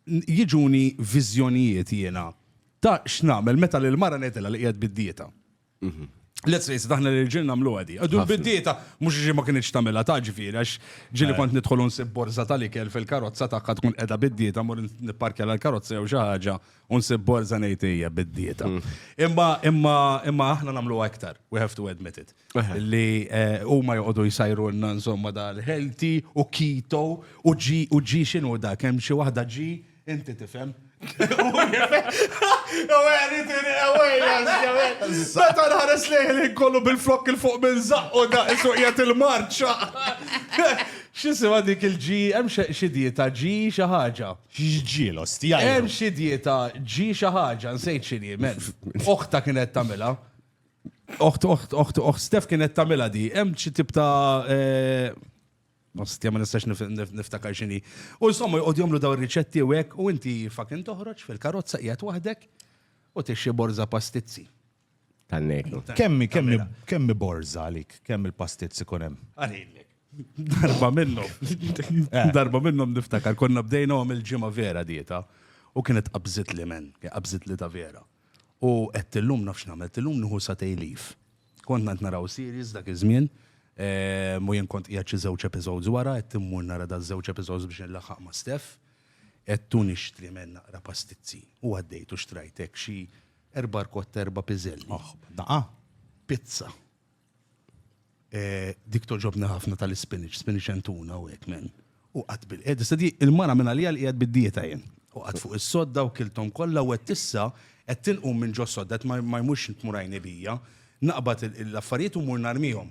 jiġuni viżjonijiet jiena ta' x'nagħmel meta lil mara ngħidilha li qiegħed bid-dieta. Mhm. Let's face it, aħna li ġil namlu għadi. Għadu bid-dieta, mux ġi ma kienieċ tamela ta' ġifiri, għax ġili kont nidħol unsib borza tal-ikel fil-karozza ta' tkun edha bid-dieta, mur nipparkja l-karozza jew xaħġa Unsib borza ngħid hija bid-dieta. Mm. Imma imma imma aħna nagħmlu aktar, we have to admit it. Li eh, huma joqogħdu jsajrulna insomma dal-healthy u keto u ġi u ġi x'inhu dak hemm xi waħda ġi inti tifhem. Meta nħares lejn kollu bil-flok il-fuq minn zaqqu da' suqjet il-marċa. Xisima dik il-ġi, hemm xi dieta ġi xi ħaġa. X'ġiel, ostja. Hemm xi dieta ġi xi ħaġa, nsejt x'inhi, men. Oħta kienet tagħmilha. Oħt, oħt, oħt, oħt, Stef kienet tagħmilha di. Hemm xi tip ta' eh, Ostja ma nistax nif- nif- niftakar x'inhi. U insomma jqogħdu jagħmlu dawn riċetti u hekk u inti fucking toħroġ fil-karozza qiegħed waħdek u tixxi borża pastizzi. Kannejtu. Kemmi, kemmi, kemmi borza għalik, kemm il-pastiet sikun hemm. Għalilek. Darba minnhom. Eh. Darba minnhom niftakar konna bdejna għom il-ġimgħa vera dieta u kienet qabżit li men, qabżit li ta' vera. U qed illum nafx nagħmel, illum nieħu sa tejlif. Konna qed naraw series dak iż-żmien, eh, mu jien kont qiegħed xi żewġ episodes wara, qed immur nara da żewġ episodes biex nlaħħaq ma' Steph, qed tu nixtri men naqra pastizzi. U għaddejt u xtrajtek xi Erba' rkotta, erba' piżelli. Oħ, daqa. Pizza. Eh, dik toġobni ħafna tal-ispinach, spinach and tuna u hekk men. U qatt bil qed issa di il-mara minn għalija li qiegħed bid-dieta jien. U qatt fuq is-sodda u kilthom kollha u qed issa qed tinqum minn ġo sodda qed ma ma jmurx tmur għajni bija. Naqbad il- l-affarijiet u mmur narmihom.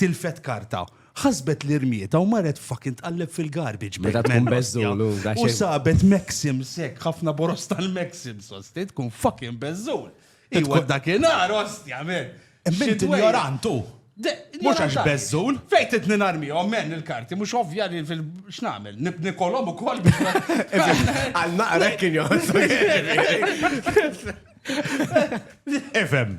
Tilfet karta, ħasbet li rmietha u marret fucking tqalleb fil-garbage bag. Meta tkun man, beżżul, ostja. u da U xejn. sabet Maxims hekk, ħafna boros tal-Maxims, osti, tkun fucking beżżul. Iwa tkun- dakinhar, ostja, men. Imma int Xidwejja. injorant hu. De- Mhux għax ignoranti. beżżul. Fejn trid ninarmihom, men, il-karti, mhux ovvja li fil... x'nagħmel? Nib- Nikolhom ukoll biex ma- Għal naqrek kien joħossu. Ifhem.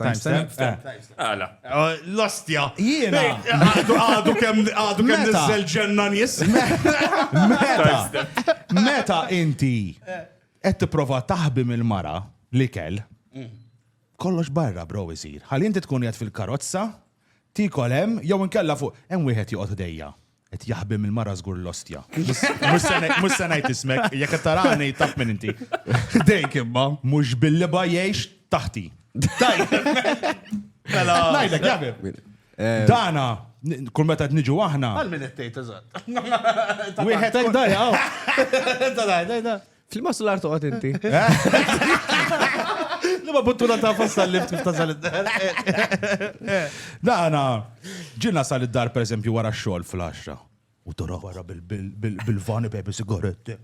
Timestamp? Għala. L-ostja. Jiena. Għadu kem għadu kem nizzel ġenna nis. Meta. Meta inti qed tipprova taħbi mill-mara li kell. Mm. Kollox barra bro isir. Ħalli inti tkun qed fil-karozza, tikol hemm jew inkella fuq hemm wieħed joqgħod ħdejja. Qed jaħbi mill-mara żgur l-ostja. Mhux se ngħid ismek, jekk qed tarani taf min inti. Dejk imma. Mhux bil-liba jgħix taħti. Mela. Ngħidlek jaħbi. Dana, kull meta qed niġu aħna. Għal min qed tgħid eżatt. Wieħed hekk dajja. Flimma sular toqgħod inti. Li ma buttuna ta' fassa l-lift kif tasal id-dar. Dana, ġinna sal id-dar per eżempju wara xogħol fl-10. U tora wara bil-vani pepe sigaretti.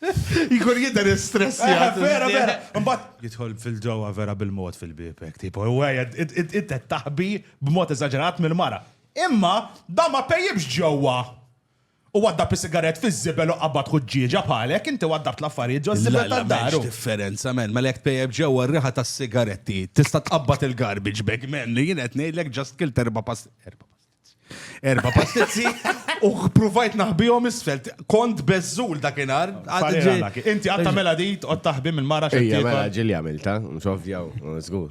Jkun jidher stress eh, jgħid. Vera, vera. Mbagħad jidħol fil-ġewwa vera bil-mod fil-bibek, tipo, ewwejja, inti taħbi b'mod eżaġerat mill-mara. Imma da ma pejjibx ġewwa. Hu waddab is-sigarett fiż-żibel u qabad ħuġġieġa bħalek, inti waddabt l-affarijiet ġo żibel ta' daru. Lalla, m'hemmx differenza man, mela jekk tpejjep ġewwa r-riħa tas-sigaretti, tista' tqabbad il-garbage bag man, jien qed ngħidlek just kilt erba' erba' pastizzi. Erba' pastizzi u ppruvajt naħbihom isfel, kont beżżul dakinhar. Inti qatt tagħmilha di, tqgħod taħbi mill-mara x'qed tiekol. Ejja, mela ġieli għamiltha, mhux ovvja, żgur.